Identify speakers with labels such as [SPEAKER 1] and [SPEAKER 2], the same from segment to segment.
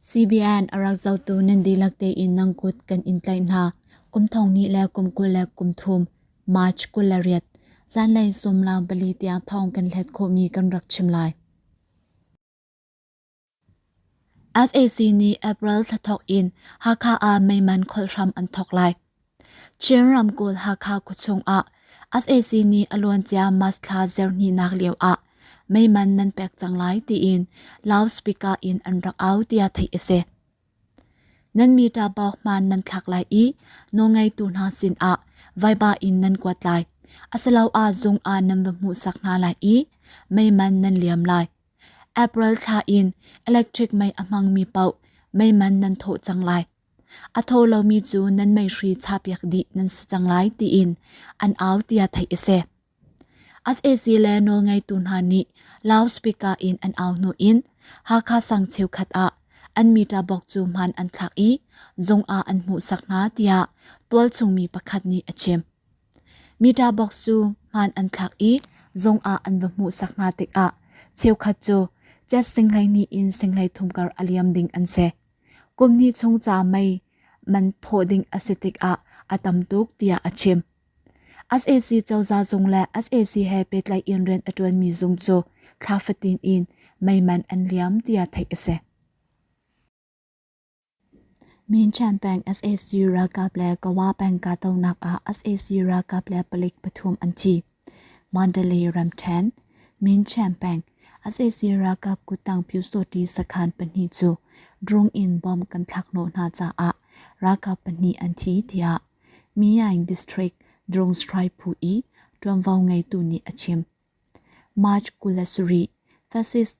[SPEAKER 1] CBN a rak zohtu nan dihlak tein nang kut kan in tlaih hna. Kum thong hnih le kum kul le kum thum, March kul le riat, zanlei sawmlang pali tiang thong kan hlet khawhmi kan rak chim lai. SAC nih April thla thawk in Hakha ah meiman kholhhram an thawk lai. Chin ramkulh Hakha khuachung ah sac nih a luancia March thla zirhnihnak lio ah meiman nan pek cang lai tiin loudspeaker in an rak au tiah theih a si. Nan meter bawk man nan thlak lai i nawngeitu hna sin ah vaiba in nan kuat lai. Asaloah zung ah nan va hmuhsak hna lai i meiman nan liam lai. April thla in electric mei a hmangmi paoh meiman nan thawh cang lai. A tho lomi cu nan meihri chapiak dih nan si cang lai tiin an au tiah theih a si. SAC le nawlngeitu hna nih loudspeaker in an au hnu in Hakha sang cheukhat ah an meter box cu hman an thlak i zung ah an hmuhsak hna tiah tualchungmi pakhat nih a chim. Meter box cu hman an thlak i zung ah an va hmuhsak hna tikah cheukhat cu Jet Singhlei nih in Singhlei thumkar a liam ding an si. Kum hnih chung ca mei man thawh ding a si tikah a tam tuk tiah a chim. SAC cozah zung le SAC he pehtlaih in rian a ṭuanmi zung cu thla fatin in mei man an liam tiah theih a si. Mincan peng SAC ralkap le Kawa peng kahdohnak ah SAC ralkap le palik pathum an thi. Mandalay ramṭhen, Minchen peng, sac ralkap kuttang pyusawṭi sakhan pahnih cu drone in bomb kan thlakhnawh hna caah ralkap pahnih an thi tiah Myine District drone strike phu i ṭuanvo ngeitu nih a chim. March kul le sarih, Fascist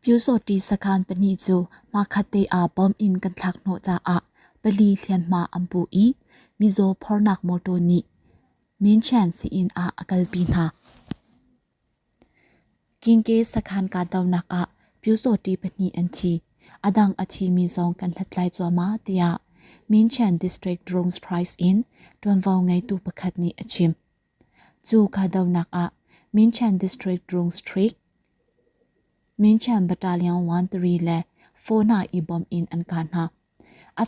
[SPEAKER 1] Pyusawhṭi sakhan pahnih cu hmakhatte aa bawm in kan thlak hnawh caah pali hlianhma an pu i mizaw phornak mawṭaw nih Minchen sii-inn ah a kalpi hna. Kingke sakhan kahdohnak ah Pyusawhṭi pahnih an thi. A dang a thimi zong kan hlathlai cuahmah tiah Minchen District Drones Prize in ṭuanvo ngeitu pakhat nih a chim. Cu kahdohnak ah Minchen District Rung Street, Minchen Battalion 13 le 4 hna i bawmh in an kah hna.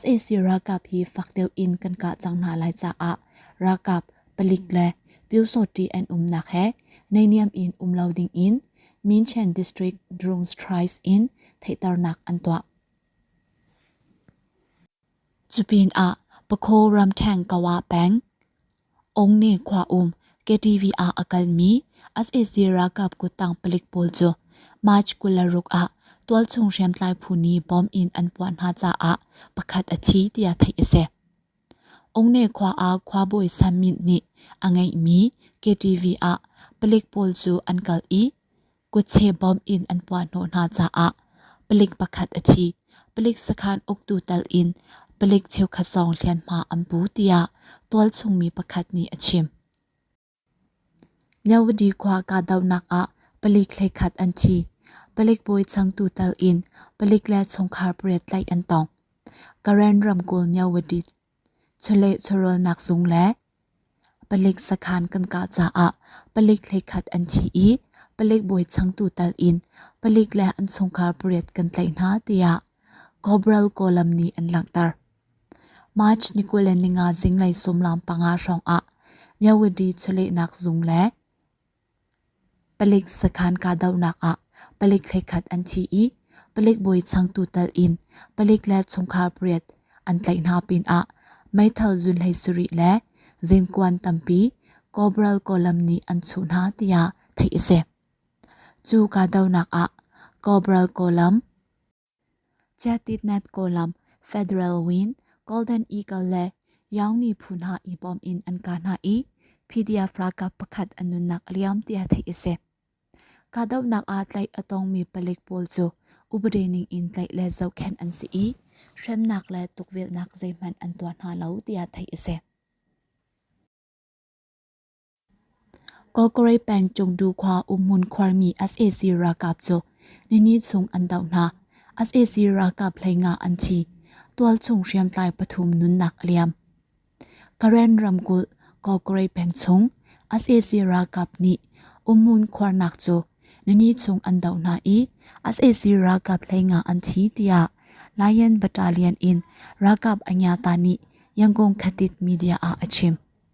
[SPEAKER 1] SAC ralkap hi fak deuh in kan kah cang hna lai caah ralkap palik le pyosawṭi an umnak he neihniam in um lo ding in Minchen District Drone Strikes in theihternak an tuah. Cupinah Pakho Ramtang Kawa Peng, Ong ne khua um KTV ah a kalmi sac ralkap kuttang palik pawl cu March kul le ruk ah tualchung hriamtlai phu nih bomb in an puah hna caah pakhat a thi tiah theih a si. Ong ne khua ah khuabawi Sam Myint nih a ngeihmi KTV ah palik pawl cu an kal i Kutse bawm in an puahhnawh hna caah palik pakhat a thi. Palik sakhan uktu tal in palik cheukhat zong hlianhma an pu tiah tualchungmi pakhat nih a chim. Nyawadi khua kahdohnak ah palik hleikhat an thi. Palik bawi changtu tal in palik le chungkhar pariat tlaih an tong. Karen ramkulh Nyawadi chawleh chawrawlnak zung le palik sakhan kan kah caah palik hleikhat an thi i palik bawi changtu tal in palik le an chungkhar pariat kan tlaih hna tiah Cobral Column nih an langhter. March ni kul le ninga zinglei sumlam panga hrawng ah Nyawadi chawlehnak zung le Palik sakhan kahdohnak ah palik thlekhat an thi i palik bawi changtu tal in palik le chungkhar pariat an tlaih hna pinah meithal zun hlei sarih le zingkuan tampi Cobral Column nih an chuh hna tiah theih a si. Cu kahdohnak ah Cobral Column, Chiatitnet kawlam Federal Wing, Golden Eagle le Yaung miphun hna i bawm in an ka hna i PDF ralkap pakhat an nunnak a liam tiah theih a si. Kahdohnak ah tlaih a tongmi palik pawl cu upadi ning in tlaih le zohkhenh an si i hremnak le tukvelhnak zeihmanh an tuah hna lo tiah theih a si. Kokore peng Chungdu khua umhmun khuarmi sac ralkap cu nini chung an doh hna. sac ralkap hlengah an thi. Tualchung hriamtlai pathum nunnak a liam. Karen ramkulh Kokore peng chung sac ralkap nih umhmun khuarnak cu nini chung an doh hna i sac ralkap hlengah an thi tiah Lion Battalion in ralkap anyata nih Yangon Khatit media ah a chim.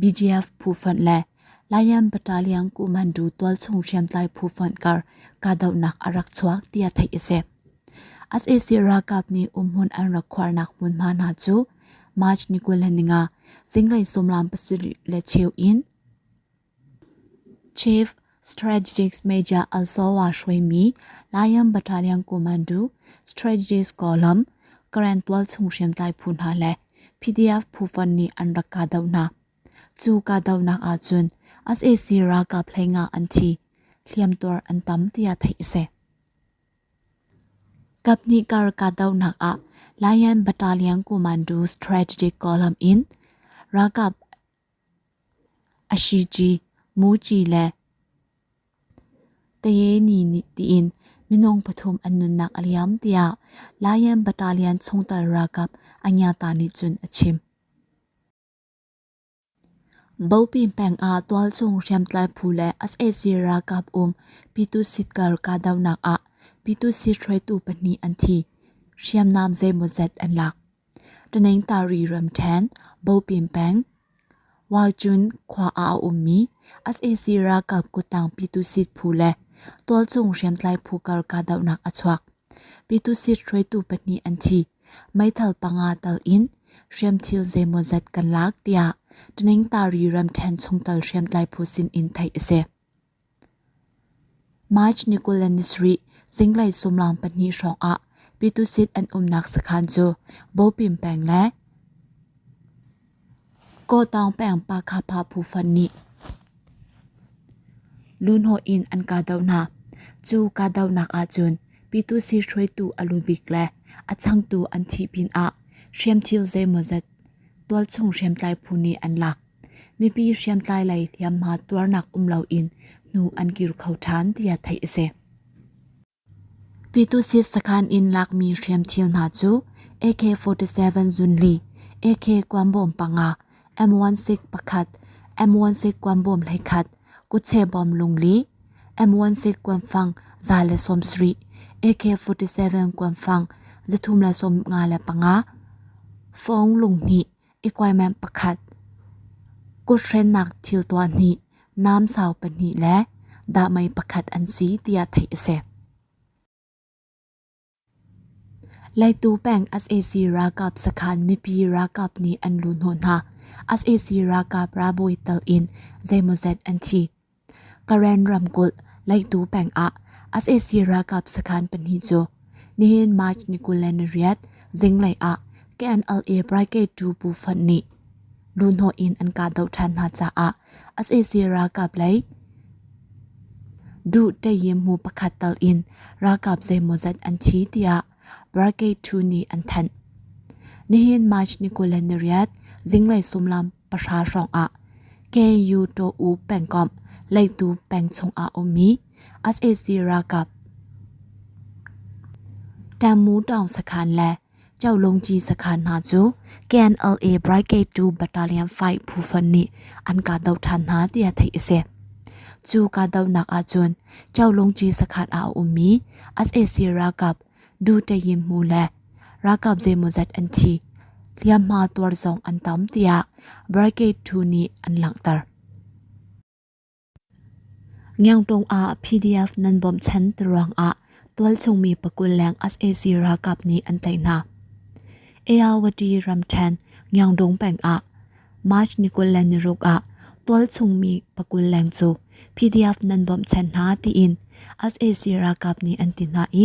[SPEAKER 1] BGF phufonh le Lion Battalion Kumandu tualchung hriamtlai phufonh kar kahdohnak a rak chuak tiah theih a si. SAC ralkap nih umhmun an rak khuarnak hmunhma hna cu March ni kul le ni nga zinglei sumlam pasarih le cheu in Chief Strategic Major Alsova hruaimi Lion Battalion Commando Strategist Column Current tualchung hriamtlai phu hna le PDF phu-fon nih an rak kahdoh hna. Cu kahdohnak ahcun sac ralkap hlengah an thi, hliamtuar an tam tiah theih a si. Kaphnih kar kahdohnak ah Lion Battalion Commando Strategic Column in ralkap Ashici, Muci le Tayeni tiin minung pathum an nunnak a liam tiah Lion Battalion chungtel ralkap a nyata nih cun a chim. Bopi peng ah tualchung hriamtlai phu le sac ralkap um Pyitusit sitkar kahdohnak ah Pyitusit hruaitu pahnih an thi. Hriamnam zeimawzet an lak. Ṭuanengtari ram ṭhen, Bopin peng, Waicun khua ah a ummi sac ralkap kuttang Pyitusit phu le tualchung hriamtlai phu kar kahdohnak a chuak. Pyitusit hruaitu pahnih an thi. Meithal panga tal in hriamthil zeimawzat kan lak tiah Ṭuanengtari ram ṭhen chungtel hriamtlai phu sin in theih a si. March ni kul le ni sarih zinglei sumlaang pahnih hrawngah Pitusit an umnak sakhan cu Bopim peng le Kawtaung peng Pakha-Pa phufan nih lunhaw in an kahdoh hna. Cu kahdohnak ahcun Pitusit hruaitu a lu bik le a changtu an thih pinah hriamthil zeimawzat tualchung hriamtlai phu nih an lak. Mipi hriamtlai lei hliamhma tuarnak um loin hnu an kir kho ṭhan tiah theih a si. Pitusit sakhan in lakmi hriamthil hna cu AK-47 zunli, AK-40 panga, M16 pakhat, M16 40 hleikhat, kutchebom lungli, M16 kuanfang za le sawmsarih, AK-47 kuanfang za thum le sawmnga le panga, fawng lunghnih, equipment pakhat. Kuthrennak thil tuah nih nam sau pahnih le dahmei pakhat an si tiah theih a si. Leitu peng SAC ralkap sakhan mipi ralkap nih an lu hnawh hna. SAC ralkap ralbawi tal in zeimawzet an thi. Karen ramkulh Leihtu peng ah sac ralkap sakhan pahnih cu nihin March ni kul le nariat zinglei ah KNLA Brigade 2 bu fonh nih luhhnawh in an kahdoh ṭhan hna caah sac ralkap lei duh ṭayim hmu pakhat tal in ralkap zeimawzat an thi tiah Brigade 2 nih an thanh. Nihin March ni kul le nariat zinglei sullam pahra hrawngah Kayutaw pengkomh Leitu peng chungah a ummi sac ralkap Tamutong sakhan le Chaolongci sakhan hna cu KNLA Brigade 2 Battalion 5 phufan nih an kahdoh than hna tiah theih a si. Cu kahdohnak ahcun Chaolongci sakhan ah a ummi sac ralkap du tein mu le ralkap zeimawzat an thi. Hliamhma tuar zong an tam tiah Brigade 2 nih an langhter. Ngyangtong ah PDF nan bom chan turuang ah tualchungmi pakul leng SAC ralkap nih an tei hna. ARWT ramthen Ngyangdong peng ah March ni kul le niruk ah tualchungmi pakul leng cu PDF nan bawmhchan hna tiin sac ralkap nih an ti hna i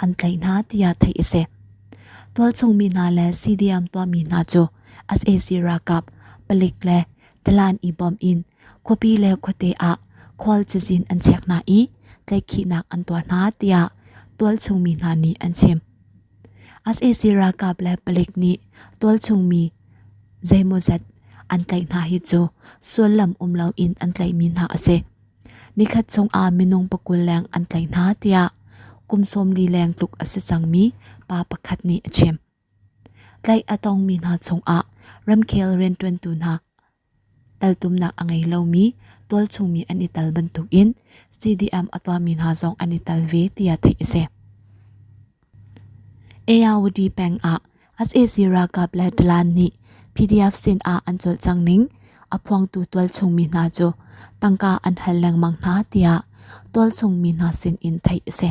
[SPEAKER 1] an tlaih hna tiah theih a si. Tualchungmi hna le CDM tuahmi hna cu sac ralkap palik le Talan i bawm in khuapi le khuate ah khual cazin an chek hna i tlaihkhihnak an tuah hna tiah tualchungmi hna nih an chim. sac ralkap le palik nih tualchungmi zeimawzat an tlaih hna hi cu sullam um loin an tlaihmi hna a si. nikhat chungah minung pakul leng an tlaih hna tiah kum sawmli leng tluk a si cangmi pa pakhat nih a chim. tlaih a tongmi hna chungah ramkhel rianṭuantu hna Taltumnak a ngei lomi, tualchung mi an i tal bantukin CDM a tuahmi hna zong an i tal ve tiah theih a si. ARUD peng ah sac ralkap le Dalan nih PDF sin ah an colh cang ning a phuangtu tualchung mi hna cu tangka an hal lengmang hna tiah tualchung mi hna sin in theih a si.